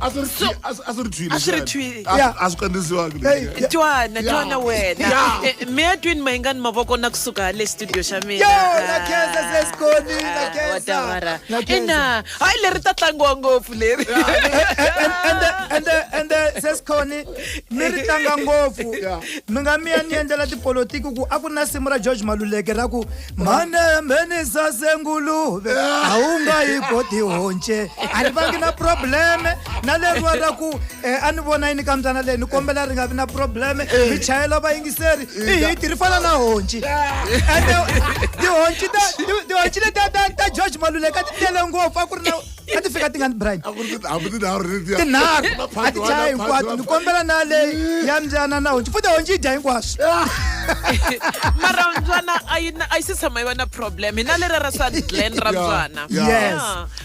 a swi ri twi- a swi- a swi ri twile A swi ri xana? twile. A swi- Yeah. a swi kandzisiwangi Hey, leswi. yeah. twana Yeah. twana wena Yeah. Eh, mi ya twini mayingani mavoko na kusuka hale studio xa mina Yo, na Khensa sesikoni, na Ah, Khensa, wa tawara. na Khensa. ina hayi leri ta tlangiwa ngopfu leri ende sesikhoni mi ri tlanga ngopfu Yeah. mi nga mi ya ni endlela tipolotiki ku a ku na simu ra george maluleke ra ku manembe ni sase nguluve a wu nga yi koti honce a ni vangi na probleme na leriwa ra ku eh, a ni vona yini ka mbyana leyi ni kombela ri nga vi na probleme eh. mi chayela vayingiseri eh, i hiti ri fana na honci ende tihonci leti ta george maluleka ti tele ngopfu a ku ri na a ti fika ti nga ni brian tinharhu a ti chaya hinkwato ni kombela na leyi ya mbyana na honci futi honci yi dya hinkwaswo mara mbyana a yi si tshama yi va na problem hi na lera ra swa glen ra mbyana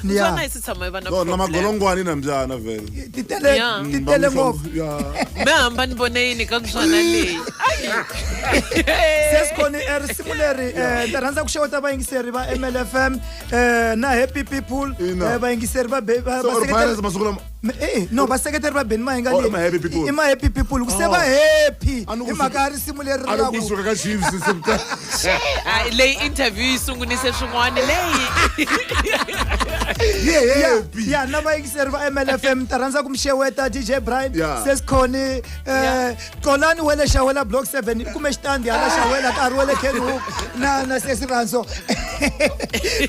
mbyana yi si tshama yi va na problem magolongwani na mbyana vele ti tele ti tele ngopfu mi hamba ni vone yini ka mbyana leyi sesikhoni risimu leri ni rhandza ku xeweta vayingiseri va mlfm eh, na happy people Ina. eh, vayingiseri va be- va- Se or vaseketeri- virus masiku lama Me- eh, no vaseketeri va beni mahinga Oh, i ma-happy people. i ma-happy people ku se Oh. va happy A ni ku hi mhaka suka- ya risimu leri a ra loko ku- kusuka ka chiefs se- Ah, leyi interview yi sungunise swin'wana leyi ye Ya- happy ya na vayingiseri va mlfm ta rhandza ku mi xeweta dj brian Yeah. sesikhoni eh, xolani wa le xawela block seven i kume xitandi hala xawela nkarhi wa le kenhook na na sesi ranso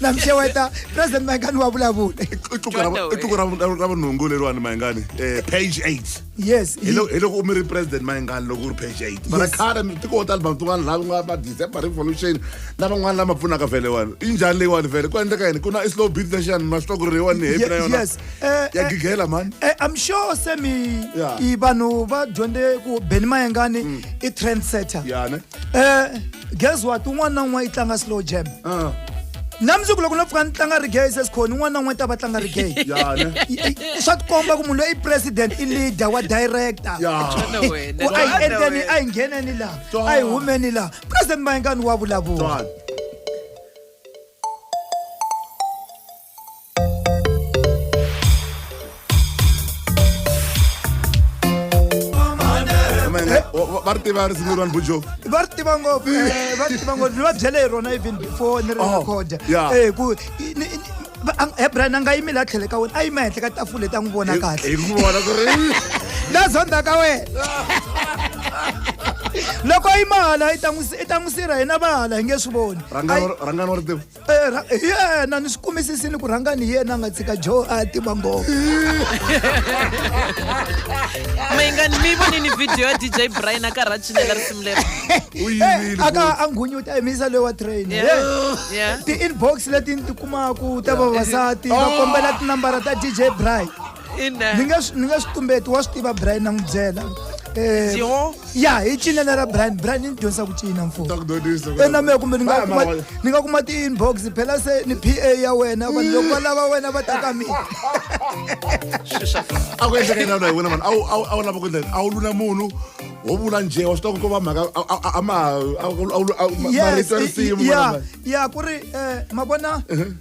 na mixeweta president mayingani wa vulavula i tluku ra vunhungu leriwani mayingani um eh, page eight yes hi loko u mi ri president mayingani loko u ri page eight mara khale tiko wo tala vanhu tin'wana laha ku nga va december revolution na van'wana lama pfunaka vhele wani i njhani leyiwani vhele ku endleka yini ku na i slow beat lexiyani ma swi twa ku ri leyiwani ni hepi na yona Eh, ya eh, gigela mani eh, i'm sure se mi Yeah. i vanhu va dyondze ku beni mayengani i trend setter ya ne um guess what un'wana na un'wana yi tlanga slow jam Ah, na mundzuku loko no pfuka ni tlanga regay sesikhoni un'wana na un'wana ta va tlanga regay ya ne swa tikomba ku munhu loyi i president i leader wa director ya Twana wena, ku a yi twana endleni wena. a yi ngheneni laha Twana. a yi humeni laha president mayengani wa vulavula Twana. va ri tiva risimu leriwani bujo va ri tiva ngopfu eh, va ri tiva ngopfu va byele hi rona even before ni ri oh, recorda eh, ku hebrian a nga yimile a tlhele ka wena a yima henhla ka tafule ta n'wi vona kahle na zonda ka wena loko yi mahala i ta n'wi sirha hina vahala hi nge swi voni rangani wa ri tiva hi yena ni swi kumisisini ku rhanga ni yena a nga tshika joe a tima ngopfu mayingani mi vonini video ya dj brian a karhi a cinela risimu leri a ka a nghunyuta emisa loyi wa train ti-inbox leti ni ti kumaku ta vavasati va kombela tinambara ta dj brian ni nga ni nga swi tumbeti wa swi tiva brian na n'wi byela Eh, ya hi cinela ra brian brian ni dyondzisa ku cina mfona mehe kumbe ni nga kuma ti-inbox phela se ni p a ya wena vanhu loko va lava wena va taka mina a ku endleka yinana hi wena vanhu a wu lava ku endleka a wu lula munhu wo vula nje wa swi tiva ku ko va mhaka a ma marito ya risimu ya ku ri um ma vona uh-huh.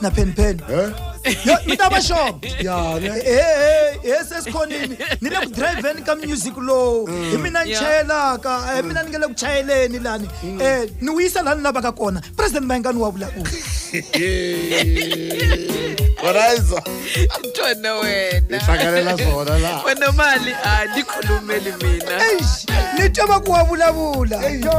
na pheni pheni Eh? Yo, mi ta va xona Ya, ne? he se sikhonini ni le ku drivheni ka music lowu hi mina ni Yeah. chayelaka hi mina ni nge le ku chayeleni lani um ni wu yisa laha ni lavaka kona president mayengani wa vulavula Varaiza. tona wena Hlanganela swona laha. wena mali a ni khulumeli mina eish ni twa va ku wa vulavula yo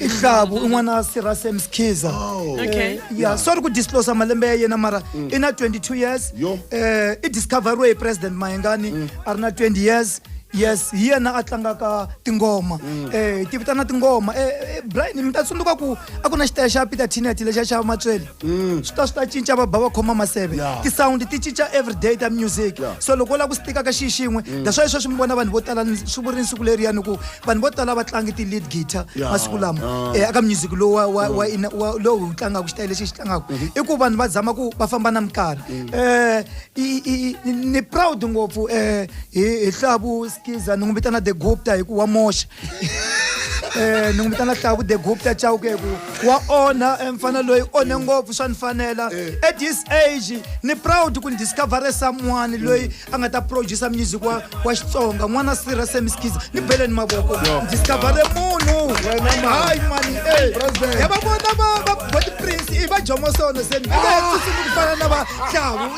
i hlavu i n'wana sira sam skhiza Oh. Okay. Eh, ya sorry ku disclosa malembe ya yena mara i na 22 years Yo. eh i discoveriwe hi president mayengani a ri na 20 years yes hi yena a tlangaka tingoma eh ti vitana tingoma eh eh, brian mi ta tsundzuka ku a ku na xitaya xa peter tineti lexa xa matswele Mm. swi ta swi ta cinca va ba va khoma maseve yeah. tisawundi ti cinca everyday ta music yeah. so loko u lava ku stika ka xiyi xin'we mm. that's why sweswi mi vona vanhu vo tala swi vuri ni siku leriyani ku vanhu vo tala va tlangi ti-lead guitar yeah. masiku lama yeah. eh, aka music lowu mm. lowu wu tlangaka xitayele lexi xi tlangaka mm -hmm. i ku vanhu va zama ku va famba na minkarhi mm. eh, ni proud ngopfu eh, hi hlavu skiza ni n'wi vitana the gupta hi ku wa moxa eh ni n'wi vitana tlaku the gupta chauke ku wa onha eh, mfana loyi onhe ngopfu swa ni fanela eh. at this age ni proud ku ni discovere someone loyi a nga ta producer music wa wa xitsonga n'wana sirha semiskiza ni bele ni mavoko discovere munhu hayi mani eh. ya va vona va body prince i va jomosono se ni ah. ku fana na va tlavu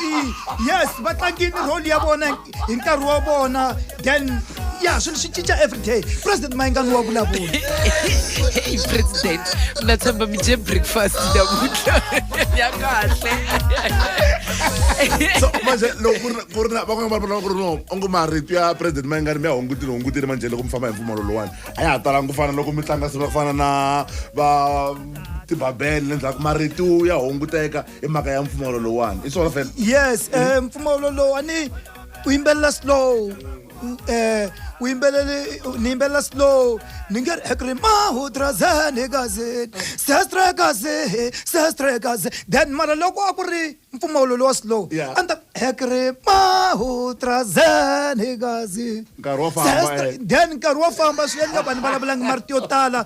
yes va tlangini role ya vona hi nkarhi wa vona then ya swilo swi cinca everyday president mayingani wa vulavula hey president na tshemba mi dye breakfast namuntlha ya kahle so manje loko ku ri ku ri na van'wana va vulava ku ri no onge marito ya president mayingani mi ya hungutile hungutile manje loko mi famba hi mpfumalo lowani a ya ha talanga ku fana loko mi tlanga swilo ku fana na va tibabele le ndzhaku marito ya hunguteka hi mhaka ya mpfumawulo lowuwani i swona fela yes um mpfumawulo lowuwani u yimbelela slow um u yimbelele ni yimbelela slow ni nge ri ekri mahudrazeni kazini sestre kazi sestre kazi then mara loko a ku ri mpfumawulo lowa slow a ni ta ekri mahudrazeni kazi then nkarhi wo famba swi endla vanhu vulavulangi marito yo tala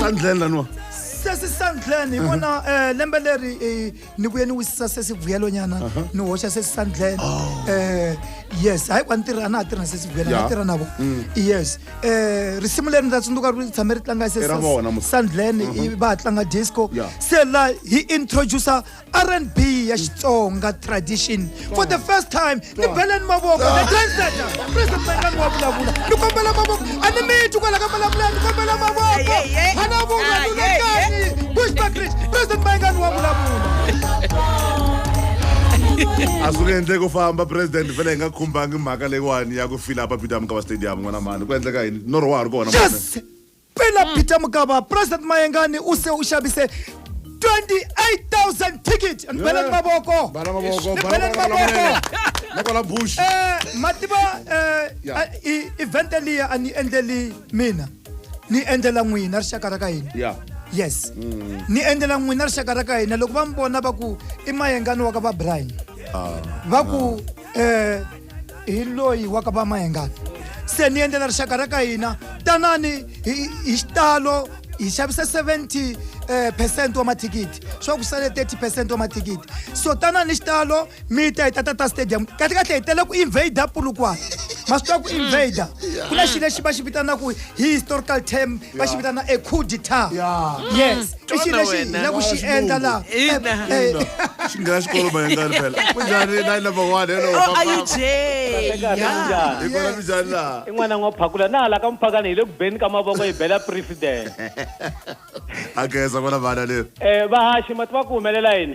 sandlen laniwa sesi sandlen hi vona um lembe leri eh, ni vuye ni wisisa sesi vuyelonyana ni hoxa sesi sandlen um yes hayi ku a ni tirha a na ha tirha na sesi vuyelo a Ya. na tirha na vo yes um risimu leri ni ta tsundzuka ri tshame ri tlanga I ra vona mos- sandlen va ha tlanga disco Ya. se la hi introducer rnb ya xitsonga tradition for the first time ni beleni mavoko the translator president mangani wa vulavula ni kombela mavoko a ni mitwi kwala ka vulavula ni kombela mavoko hana vungalulekani bushbakrish president mangani wa vulavula a swi nge endleki ku famba president fela hi nga khumbangi mhaka leyiwani ya ku fila papito ya mukava stadium n'wana mani ku endleka yini norho wa ha ri kona yes Pela mm. Peter Mugaba, President Mayengani u se u xavise 28,000 ticket ni bela ni mavoko bela ni mavoko nakona bush eh mativa eh event liya a ni endleli mina ni endlela n'wina rixaka ra ka hina yeah yes mm. ni endlela n'wina rixaka ra ka hina loko va mi vona va ku i mayengani wa ka va brian ah. va ku ah. eh hi loyi wa ka va mahengani se ni endlela rixaka ra ka hina tanani hi hi xitalo hi xavisa 70 eh, percent wa mathikithi swa ku sale 30 percent wa mathikithi so tanani hi xitalo mi ta hi ta tata stadium kahle kahle hi tele ku invader pulukwana ma swi tiva ku invader ku na xi lexi va xi vitanaka hi historical term va xi vitana a coup d'etat Yeah. yes i xilo lexi hi la ku xi endla laha Ina. Eh, eh, xi nghena xikolo mayengani phela kunjani na yi number one hello Oh, are you Jay? Kahle kahle, Yeah. njhani? hi kona kunjani laha i n'wana n'wa phakula na hala ka muphakani hi le ku beni ka mavoko hi bela president a geza kona vana leri um vahaxi mati va ku humelela yini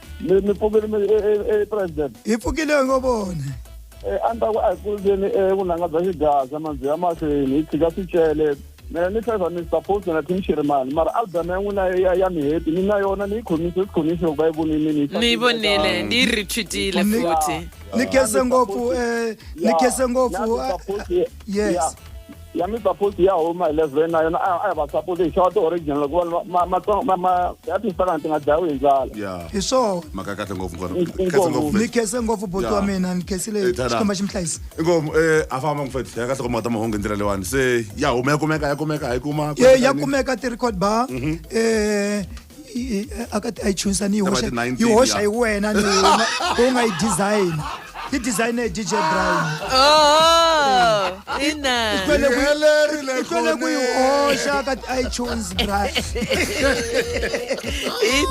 ni ni pfukile mi- e- e- e president hi pfukile ngo vona Eh, a ni ta ku a hi kuleni eh, vunanga bya xigaza manzi ya mahlweni hi tshika swicele mina ni hleza ni suppose na tim xirimani mara album ya n'wina ya- ya miheti ni na yona ni yi khomise sikhonisi loko va yi vonile ni yi ni yi vonile ni yi retweetile Ni- futhi ni khense ngopfu eh ni khense ngopfu ah, yes ya mipapoti ya huma eleven na yona a hi va sapoti hi xava ti-original hikuva ya timpelana ti nga dlayiwi hi ndlala hi swona maka kahle ngopfu ni khese ngopfu boti wa mina ni khesile eh, xikomba xi mi hlayisa inkomu um eh, a famba ngufethi ya kahle ku mata mahungu hi ndlela leyiwani se ya huma ya kumeka ya kumeka ha yi kuma ya kumeka ti-record bar um mhm. eh, i- i- a ka ti iTunes a ni yi Eka va hoxa ti 19 yi hoxa ya. hi wena ni wena u nga yi design yi design hi DJ Brian Oh, ina. Kwele ku- Helerile kwele ku yi khone. hoxa ka ti iTunes Brian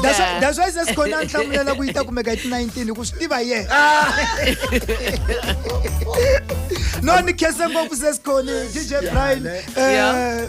that's why- Ina. that's why se sikhona a ni hlamulela ku yi ta kumeka hi ti 19 hi ku swi tiva hi yena no ni khensa ngopfu se sikhoni DJ Brian Yeah. eh,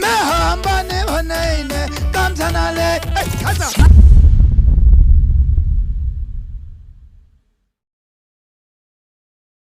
me hamba ni vanene ka mbyana leyi